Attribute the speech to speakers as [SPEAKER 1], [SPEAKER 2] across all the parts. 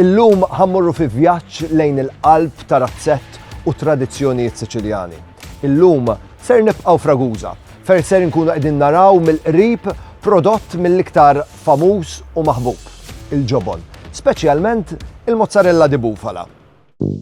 [SPEAKER 1] Illum ħa mmorru fi vjaġġ lejn il-qalb ta' razzett u tradizzjonijiet Siċiljani. Illum ser nibqgħu f'Ragusa, fejn ser inkunu qegħdin naraw mill-qrib prodott mill-iktar famuż u maħbub, il-ġobon, speċjalment il-mozzarella di bufala.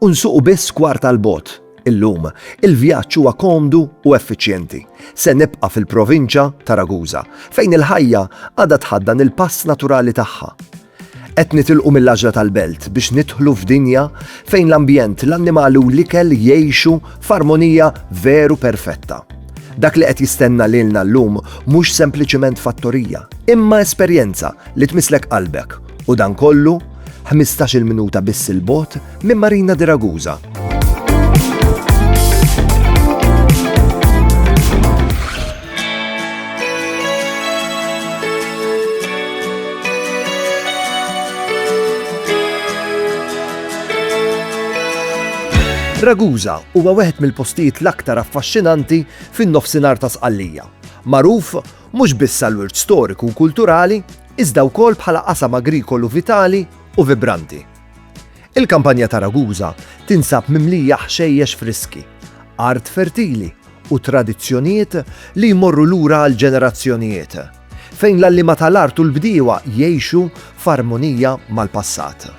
[SPEAKER 1] u nsuqu biss kwarta 'l bogħod. Illum, il-vjaġġ huwa komdu u effiċjenti. Se nibqa' fil-provinċja ta' Ragusa, fejn il-ħajja għadha tħaddan il-pass naturali tagħha. Qed nitilqu mill-għaġla tal-belt biex nidħlu f'dinja fejn l-ambjent, l-annimali u l-ikel jgħixu f'armonija veru perfetta. Dak li qed jistenna lilna llum mhux sempliċement fattorija, imma esperjenza li tmisslek qalbek U dan kollu, ħmistax-il minuta biss 'il bogħod minn Marina di Ragusa. Ragusa huwa wieħed mill-postijiet l-aktar affaxxinanti fin-nofsinhar ta' Sqallija. Magħruf mhux biss għall-wirt storiku u kulturali, iżda wkoll bħala qasam agrikolu vitali u vibranti. Il-kampanja ta' Ragusa tinsab mimlija ħxejjex friski, art fertili u tradizzjonijiet li jmorru lura għal ġenerazzjonijiet, fejn l-għalliema tal-art u l-bdiewa jgħixu f'armonija mal-passat.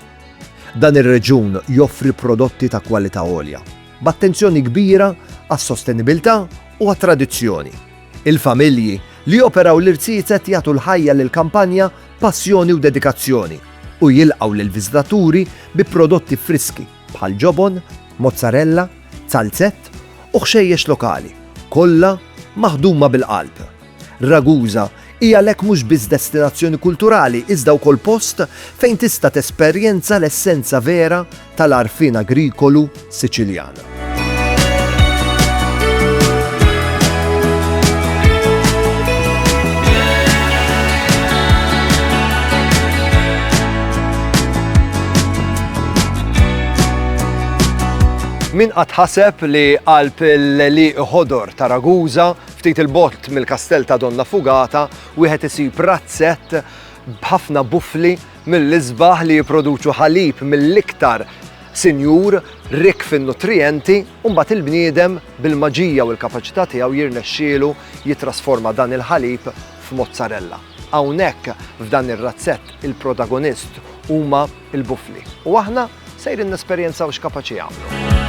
[SPEAKER 1] Dan ir-reġjun joffri prodotti ta' kwalità għolja, b'attenzjoni kbira għas-sostenibilità u għat-tradizzjoni. Il-familji li joperaw l-irziezet jagħtu l-ħajja lill-kampanja b'passjoni u dedikazzjoni u jilqgħu lill-viżitaturi bi prodotti friski bħal ġobon, mozzarella, zalzett u ħxejjex lokali, kollha maħduma bil-qalb. Ragusa hi għalhekk mhux biss destinazzjoni kulturali iżda wkoll post fejn tista' tesperjenza l-essenza vera tal-għarfien agrikolu Siċiljan. Min qatt ħaseb li qalb l-li ħodor ta' Raguża ftit il-bott mill-kastell ta' Donna Fugata wieħed isib razzett b'ħafna bufli mill-isbaħ li jipproduċu ħalib mill-iktar sinjur rikk fin-nutrijenti u mbagħad il-bniedem bil-maġija u l-kapaċità tiegħu jirnexxielu jittrasforma dan il-ħalib f'mozzarella. Hawnhekk f'dan ir-razzett il-protagonist huma l-bufli u aħna sejrin nesperjenzaw x'kapaċi jagħmlu.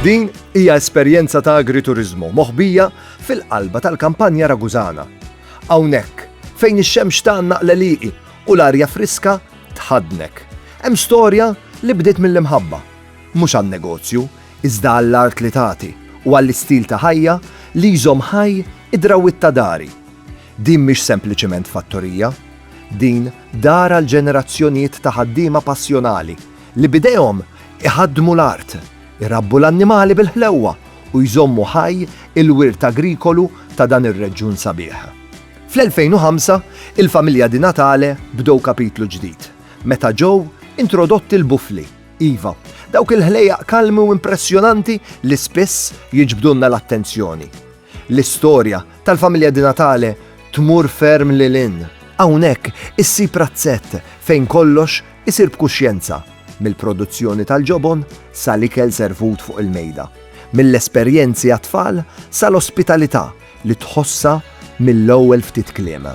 [SPEAKER 1] Din hija esperjenza ta' agrituriżmu moħbija fil-qalba tal-kampanja Ragusana. Hawnhekk, fejn ix-xemx tgħannaq l-għelieqi u l-arja friska tħaddnek, hemm storja li bdiet mill-imħabba. Mhux għan-negozju, iżda għall-art li tagħti u għall-istil ta' ħajja li jżomm ħaj id-drawwiet ta' dari. Din mhix sempliċement fattorija. Din dar għal ġenerazzjonijiet ta' ħaddiema passjonali li b'idejhom iħaddmu l-art. Irabbu l-annimali bil-ħlewwa u jżommu ħaj il-wirt agrikolu ta' dan ir-reġjun sabiħ. Fl-2005, il-familja Di Natale bdew kapitlu ġdid, meta ġew introdotti l-bufli, iva, dawk il-ħlejjaq kalmi u impressjonanti li spiss jiġbdulna l-attenzjoni. L-istorja tal-familja Di Natale tmur ferm lil hinn. Hawnhekk issib razzett fejn kollox isir b'kuxjenza, mill-produzzjoni tal-ġobon sa l-ikel servut fuq il-mejda, mill-esperjenzi għat-tfal sa l-ospitalità li tħossha mill-ewwel ftit kliem.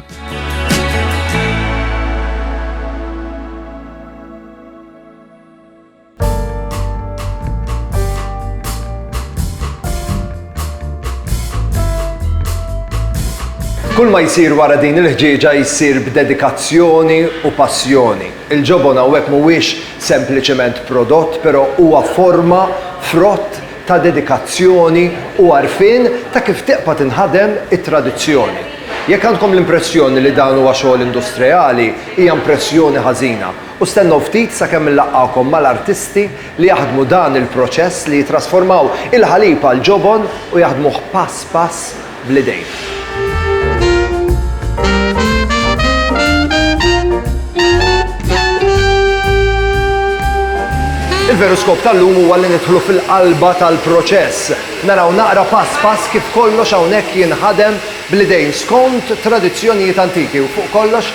[SPEAKER 1] Kull ma jsir wara din il-ħġieġa jsir b'dedikazzjoni u passjoni. Il-ġobon hawnhekk mhuwiex sempliċement prodott, però huwa forma frott ta' dedikazzjoni u għarfien ta' kif tiqpa' tinħadem it-tradizzjoni. Jekk għandkom l-impressjoni li dan huwa xogħol industrejali, hija impressjoni ħażina. U stennew ftit sakemm inlaqqagħkom mal-artisti li jaħdmu dan il-proċess li jittrasformaw il-ħalib għal ġobon u jaħdmuh pass pass bl-idejn. Il-veru skop tal-lum huwa li nidħlu fil-qalba tal-proċess. Naraw naqra pass pass kif kollox hawnhekk jinħadem bl-idejn skont tradizzjonijiet antiki u fuq kollox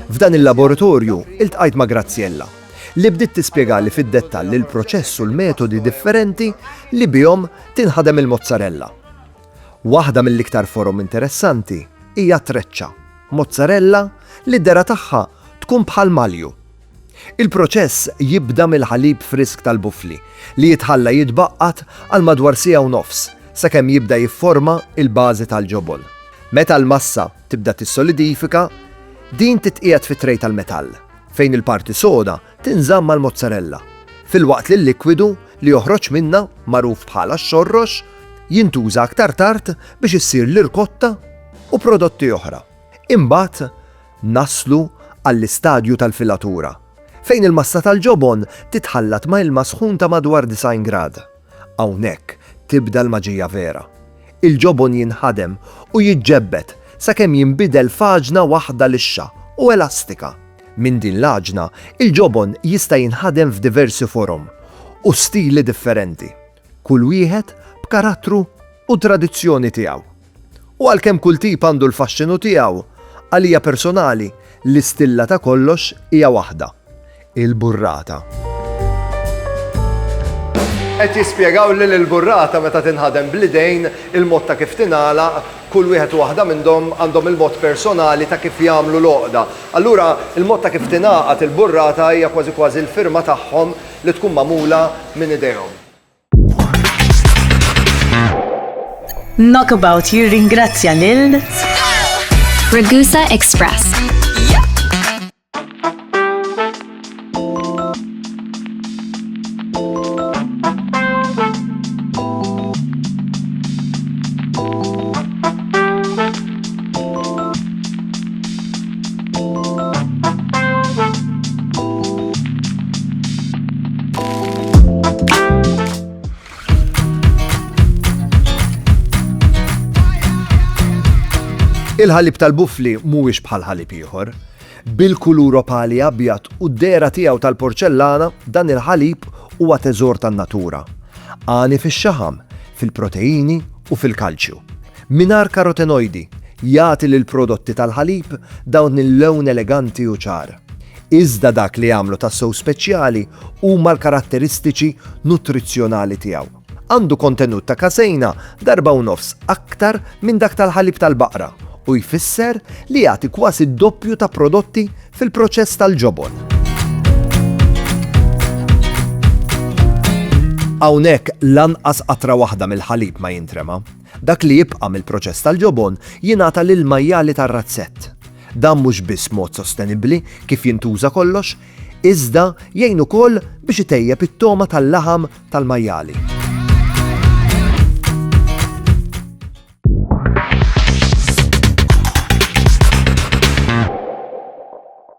[SPEAKER 1] F'dan il-laboratorju iltqajt ma' Graziella, li bdiet tispjegali fid-dettall il-proċess u l-metodi differenti li bihom tinħadem il-mozzarella. Waħda mill-iktar forom interessanti hija t-treċċa, mozzarella li d-dehra tagħha tkun bħal malju. Il-proċess jibda mill-ħalib frisk tal-bufli li jitħalla jitbaqqat għal madwar siegħa u nofs sakemm jibda jifforma l-bażi tal-ġobon. Meta l-massa tibda tissolidifika, din titqiegħed fi tray tal-metall, fejn il-parti soda tinżamm mal-mozzarella, filwaqt li l-likwidu li joħroġ minnha, magħruf bħala x-xorrox, jintuża aktar tard biex issir l-irkotta u prodotti oħra. Imbagħad naslu għall-istadju tal-filatura, fejn il-massa tal-ġobon titħallat ma' ilma sħun ta' madwar 90 grad. Hawnhekk tibda l-maġija vera. Il-ġobon jinħadem u jiġġebbed sakemm jinbidel f'għaġna waħda lixxa u elastika. Minn din l-għaġna, il-ġobon jista' jinħadem f'diversi forom u stili differenti, kull wieħed b'karattru u tradizzjoni tiegħu. U għalkemm kull tip għandu l-faxxinu tiegħu, għalija personali, l-istilla ta' kollox hija waħda, il-burrata. Qed jispjegawli li l-burrata meta tinħadem bl-idejn, il-mod ta' kif tingħalaq, kull wieħed u waħda minnhom għandhom il-mod personali ta' kif jagħmlu l-għoqda. Allura, il-mod ta' kif tingħaqad il-burrata hija kważi kważi l-firma tagħhom li tkun magħmula minn idejhom. Knockabout jirringrazzja lil Ragusa Express. Il-ħalib tal-bufli mhuwiex bħal ħalib ieħor. Bil-kulur opali abjad u d-dera tiegħu tal-porċellana dan il-ħalib huwa teżor tan-natura. Għani fix-xaħam, fil-proteini u fil-kalċju. Mingħajr karotenojdi, jagħti lill-prodotti tal-ħalib dawn il-lewn eleganti u ċar. Iżda dak li jagħmlu tassew speċjali huma l-karatteristiċi nutrizzjonali tiegħu. Għandu kontenut ta' kaseina darba u nofs aktar minn dak tal-ħalib tal-baqra u jfisser li jagħti kważi d-doppju ta' prodotti fil-proċess tal-ġobon. Hawnhekk lanqas qatra waħda mill-ħalib ma jintrema. Dak li jibqa' mill-proċess tal-ġobon jingħata lill-majjali tar-razzett. Dan mhux biss mod sostenibbli kif jintuża kollox, iżda jgħin ukoll biex itejjeb it-togħma tal-laħam tal-majjali.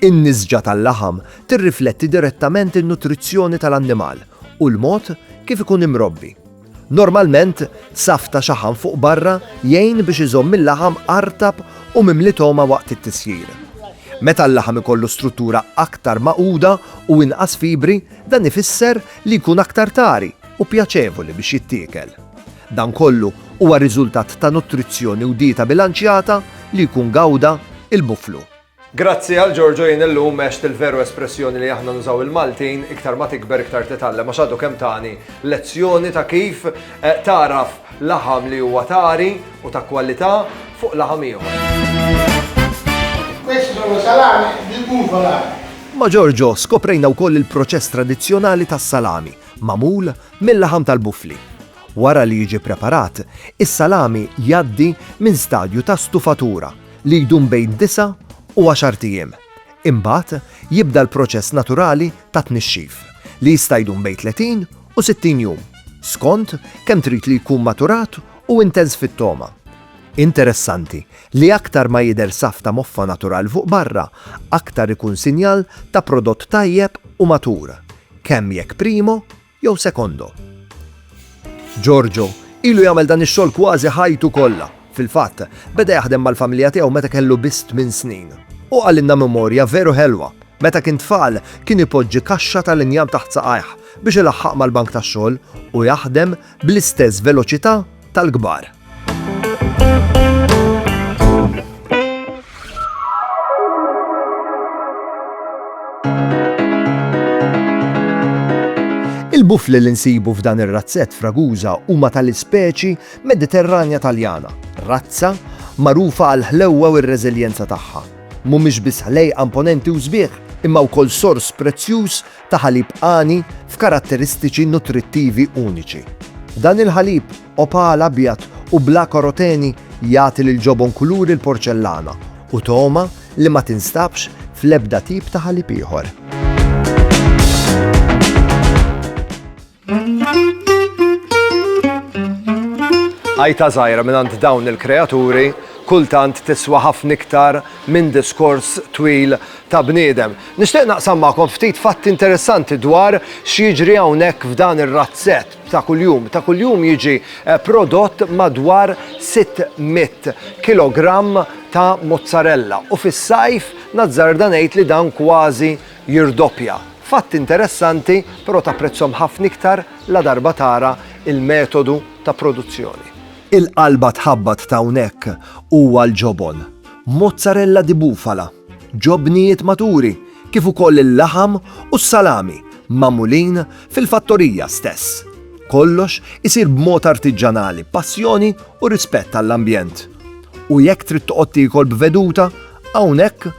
[SPEAKER 1] In-nisġa tal-laħam tirrifletti direttament in-nutrizzjoni tal-annimal u l-mod kif ikun imrobbi. Normalment, saff ta' xaħam fuq barra jgħin biex iżomm il-laħam artab u mimli togħma waqt it-tisjir. Meta l-laħam ikollu struttura aktar magħquda u inqas fibri, dan ifisser li jkun aktar tari u pjaċevoli biex jittiekel. Dan kollu huwa riżultat ta' nutrizzjoni u dieta bilanċjata li jkun gawda il-buflu. Grazzi għal Giorgio jien illum għext il-veru espressjoni li aħna nużaw il-Maltin iktar ma tikber iktar titgħallem għax għadu kemm tani lezzjoni ta' kif tagħraf laħam li huwa t'għari u ta' kwalità fuq laħam ieħor. Questi sono salami di bufala. Ma' Giorgio skoprejna wkoll il-proċess tradizzjonali tas-salami, magħmul mil-laħam tal-bufli. Wara li jiġi preparat, is-salami jgħaddi minn stadju ta' stufatura, li jdum bejn disa' u għaxart ijiem. Imbagħad jibda l-proċess naturali ta' tnixxif, li jista' jdum bejn 30 u 60 jum, skont kemm trid li jkun maturat u intenż fit-togħma. Interessanti li aktar ma jidher saff ta' moffa naturali fuq barra, aktar ikun sinjal ta' prodott tajjeb u matur, kemm jekk primo Jew secondo. Giorgio ilu jagħmel dan ix-xogħol kważi ħajtu kollha. Fil-fatt, beda jaħdem mal-familja tiegħu meta kellu biss tmien snin. Hu qalilna memorja veru ħelwa. Meta kien tfal, kien ipoġġi kaxxa tal-injam taħt saqajh biex ilaħħaq mal-bank tax-xogħol u jaħdem bl-istess veloċità tal-kbar. Il-bufli li nsibu f'dan ir-razzett fraguża huma tal-ispeċi Mediterranja Taljana, razza magħrufa għal ħlewwa u r-reżiljenza tagħha. Mhumiex biss ħlejqa imponenti u sbieħ, imma wkoll sors prezzjuż ta' ħalib għani f'karatteristiċi nutrittivi uniċi. Dan il-ħalib, opal abjad u bla karoteni, jagħti lill-ġobon kuluri l-porċellana u togħma li ma tinstabx fl-ebda tip ta' ħalib ieħor. Għajta żgħira mingħand dawn il-kreaturi kultant tiswa ħafna iktar minn diskors twil ta' bniedem. Nixtieq naqsam magħkom ftit fatti interessanti dwar x'jiġri hawnhekk f'dan ir-razzett ta' kuljum. Ta' kuljum jiġi eh, prodott madwar 600 kilogramm ta' mozzarella u fis-sajf nazzarda ngħid li dan kważi jirdoppja. Fatt interessanti, però tapprezzhom ħafna iktar ladarba tara l-metodu ta' produzzjoni. Il-qalba tħabbat t'hawnhekk huwa l-ġobon, mozzarella di bufala, ġobnijiet maturi, kif ukoll il-laħam u s-salami magħmulin fil-fattorija stess. Kollox isir b'mod artiġġanali, passjoni u rispett għall-ambjent. U jekk trid toqgħod tiekol b'veduta, hawnhekk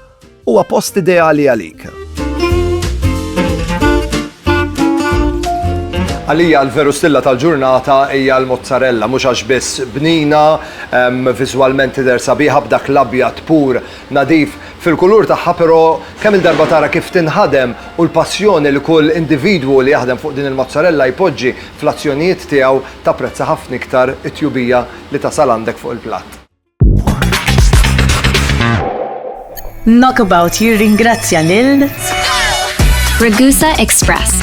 [SPEAKER 1] Huwa post ideali għalik. Għalija l-veru stilla tal-ġurnata hija l-mozzarella, mhux għax biss bnina, viżwalment tidher sabiħa b'dak l-abjad pur nadif fil-kulur tagħha, però kemm il-darba tara kif tinħadem u l-passjoni li kull individwu li jaħdem fuq din il-mozzarella jpoġġi fl-azzjonijiet tiegħu tapprezza ħafna iktar it-tjubija li tasal għandek fuq il-platt. Knockabout jirringrazzja lil Ragusa Express.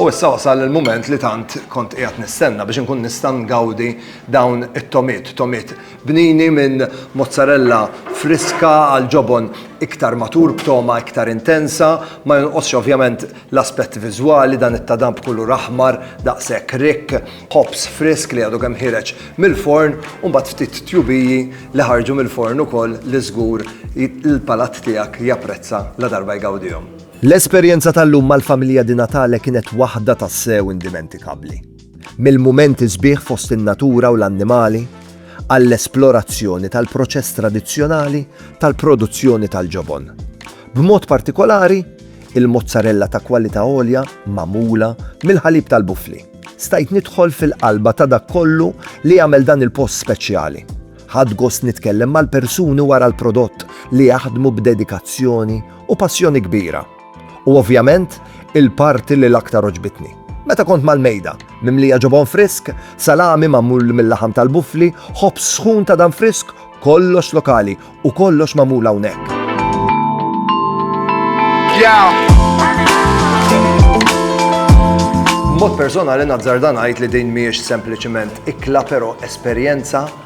[SPEAKER 1] U issa wasal il-moment li tant kont qiegħed nistenna biex inkun nista' ngawdi dawn it-tomit, tomit bnini minn mozzarella friska għal ġobon iktar matur b'toma iktar intensa, ma jonqosx ovvjament L-aspett viżwali, dan it-tadam b'kulur aħmar daqshekk rikk, ħobż frisk li għadu kemm ħiereġ mill-forn u mbagħad ftit tjubiji li ħarġu mill-forn ukoll li żgur l-palat tiegħek japprezza ladarba jgawdihom. L-esperjenza tal-lum mal-familja Di Natale kienet waħda tassew indimentikabbli. mill-mumenti sbieħ fost in-natura u l-annimali għall-esplorazzjoni tal-proċess tradizzjonali tal-produzzjoni tal-ġobon. B'mod partikolari, il-mozzarella ta' kwalità għolja magħmula mill-ħalib tal-bufli. Stajt nidħol fil-qalba ta' dak kollu li jagħmel dan il-post speċjali. Ħadt gost nitkellem mal-persuni wara l-prodott li jaħdmu b'dedikazzjoni u passjoni kbira. U ovvjament, il-parti li l-aktar għoġbitni. Meta kont mal-mejda, mimlija ġobon frisk, salami magħmul mil-laħam tal-buffli, ħobż sħun ta' dan frisk, kollox lokali u kollox magħmul hawnhekk. Mod personali nazzarda ngħid li din mhijiex sempliċiment ikla però esperjenza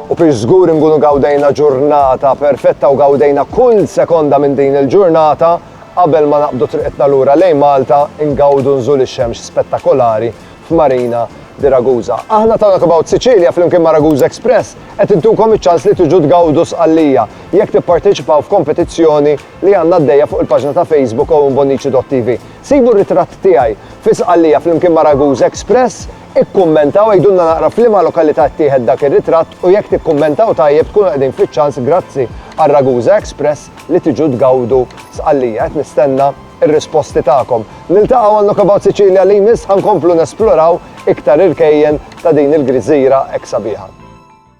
[SPEAKER 1] U biex żgur inkunu gawdejna ġurnata perfetta u gawdejna kull sekonda minn din il-ġurnata, qabel ma naqbdu triqitna lura lejn Malta, ingawdu nżul ix-xemx spettakolari f'Marina di Ragusa. Aħna ta' Knockabout Sicilia flimkien ma' Ragusa Express qed intukom iċ-ċans li tiġu tgawdu Sqallija jekk tipparteċipaw f'kompetizzjoni li għandna għaddejja fuq il-paġna ta' Facebook OwenBonnici.TV. Sibu r-ritratt tiegħi fi Sqallija flimkien ma' Ragusa Express Ikkummentaw, għidulna naqra f'liema lokalità ttieħed dak ir-ritratt u jekk tikkummentaw tajjeb tkunu qegħdin fiċ-ċans grazzi għal Ragusa Express li tiġu tgawdu Sqallija. Qed nistenna r-risposti tagħkom. Niltaqgħu għal Knockabout Sicilia li jmiss ħa nkomplu nesploraw iktar irkejjen ta' din il-griżira hekk sabiħa.